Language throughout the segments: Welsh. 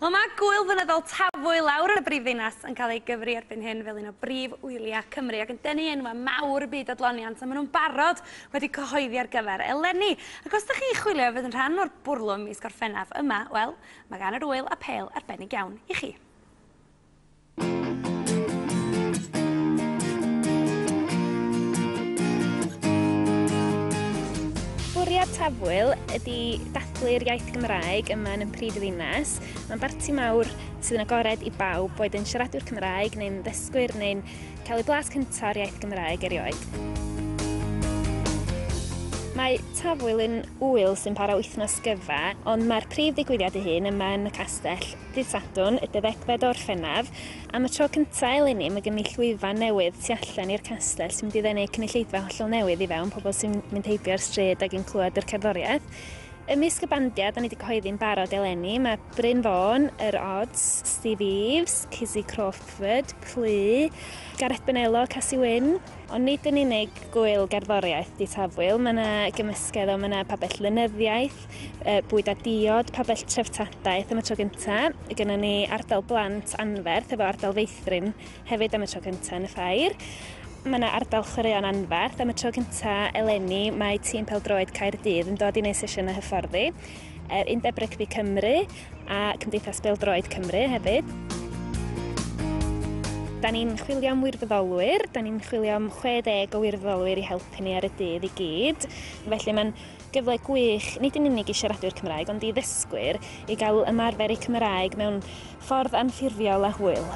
Wel mae gwyl fynyddol Tafwy lawr yn y brif ddinas yn cael ei gyfri erbyn hyn fel un o brif wyliau Cymru ac yn denu enwau mawr y byd adloniant a maen nhw'n barod wedi cyhoeddi ar gyfer eleni. Ac os ydych chi'n chwilio i fod yn rhan o'r bwrlwm mis Gorffennaf yma, wel, mae gan yr wyl apêl arbennig iawn i chi. Bwriad Tafwyl ydy dathlu'r iaith Gymraeg yma yn y prif ddinas. Mae'n barti mawr sydd yn agored i bawb, boed yn siaradwyr Cymraeg neu'n ddysgwyr neu'n cael ei blas cyntaf o'r iaith Gymraeg erioed. Mae Tafwyl yn ŵyl sy'n para wythnos gyfa, ond mae'r prif ddigwyddiad ei hun yma yn y castell. Ddydd Sadwrn, y deuddegfed o Orffennaf, am y tro cynta' eleni ma' gen ni llwyfan newydd tu allan i'r castell sy'n mynd i ddenu cynulleidfa hollol newydd i fewn, pobl sy'n mynd heibio ar stryd ag yn clywed yr cerddoriaeth. Ymysg y bandiau 'da ni 'di cyhoeddi'n barod eleni ma' Bryn Fôn, Yr Odds, Steve Eaves, Cizzy Crawford, Plu, Gareth Bonello, Casi Wyn. Ond nid yn unig gŵyl gerddoriaeth 'di Tafwyl, ma' 'na gymysgedd o ma' 'na pabell lenyddiaeth, bwyd a diod, pabell treftadaeth am y tro gynta. Gynnon ni ardal blant anferth efo ardal feithrin hefyd am y tro cynta yn y ffair. Mae yna ardal chwaraeon anferth am y tro cynta eleni mae tîm peldroed Caerdydd yn dod i wneud sesiynau hyfforddi, yr Undeb Rygbi Cymru a Cymdeithas Beldroed Cymru hefyd. Da ni'n chwilio am wirfoddolwyr, da ni'n chwilio am 60 o wirfoddolwyr i helpu ni ar y dydd i gyd, felly mae'n Gyfle gwych, nid yn unig i siaradwyr Cymraeg, ond i ddysgwyr, i gael ymarfer eu Cymraeg mewn ffordd anffurfiol a hwyl.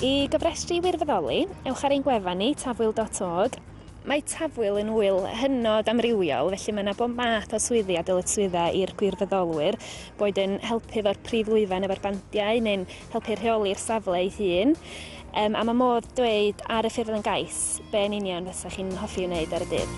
I gofrestru i wirfoddoli, ewch ar ein gwefan ni, tafwyl dot org. Mae Tafwyl yn ŵyl hynod amrywiol, felly mae yna bob math o swyddi a dyletswyddau i'r gwirfoddolwyr, boed yn helpu efo'r prif lwyfan efo'r bandiau neu'n helpu rheoli'r safle ei hun. Yym, a mae modd dweud ar y ffurflen gais be yn union fysa chi'n hoffi wneud ar y dydd?